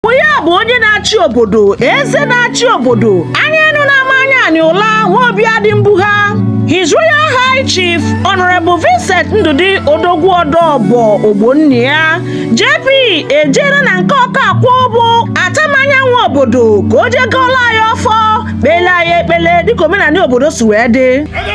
bụ ya bụ onye na-achị obodo eze na-achị obodo anya enu na-ama anya anyị ụla nwa obi adị mbụ ha His Royal High Chief Honorable Vincent Ndụdị Odogwu Ọdọbọ Ogbonnia JP ejere na nke Ọkakwụ bụ Atamanya nwe obodo ka o jee gọọla ya ọfọ kpele ya ekpele dịka omenanị obodo si wee dị Ebe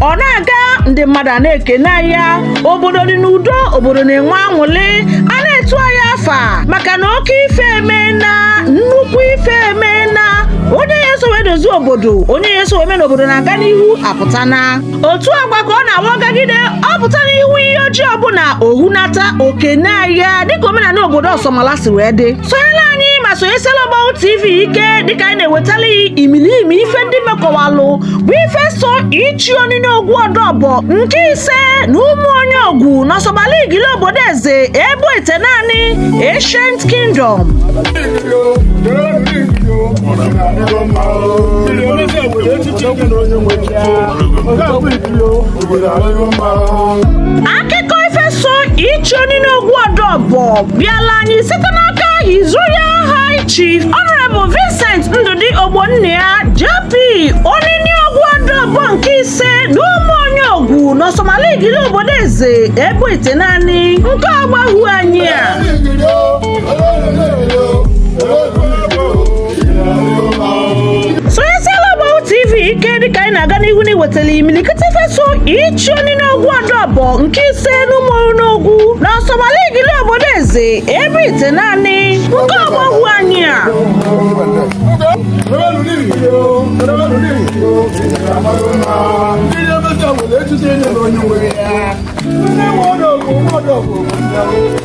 ọ na-aga ndị mmadụ na-ekene ya obodo dị n'udo obodo na-enwe anwụlị a na-etu ya afa maka na oke ife emena nnukwu ife emena onye ya eso wee dozie obodo onye ya eso wee mee na obodo na-aga n'ihu apụtana otu agwa ka ọ na-awagagide ọ pụta n'ihu Iyi Oji ọbụna o hunata o kene ya dịka omenanị obodo Ọsọmala si wee dị sonyela anyị ma sonyesela Ọgbahu TV ike dịka anyị na-ewetala ị imilimi ife ndị mekọwalụ bụ ife so ichi Oniniogwu Ọdọbọ nke ise na Ụmụonyiogwu n'Ọsọmala Igili obodo eze ebo itenaanị Ancient Kingdom akụkọ ife so ichi Oniniogwu Ọdọbọ bịala anyị site n'aka His Royal High Chief Honorable Vincent Ndụdị Ogbonnia JP Oniniogwu Ọdọbọ nke ise n'Ụmụonyiogwu n'Ọsọmala Igili obodo eze ebo itenaanị nke Ọgbahu anyị a wetala imilikiti ife so ichi Oniniogwu Ọdọbọ nke ise n'Ụmụonyiogwu na Ọsọmala Igili obodo eze ebo itenaanị nke Ọgbahu anyị a ndị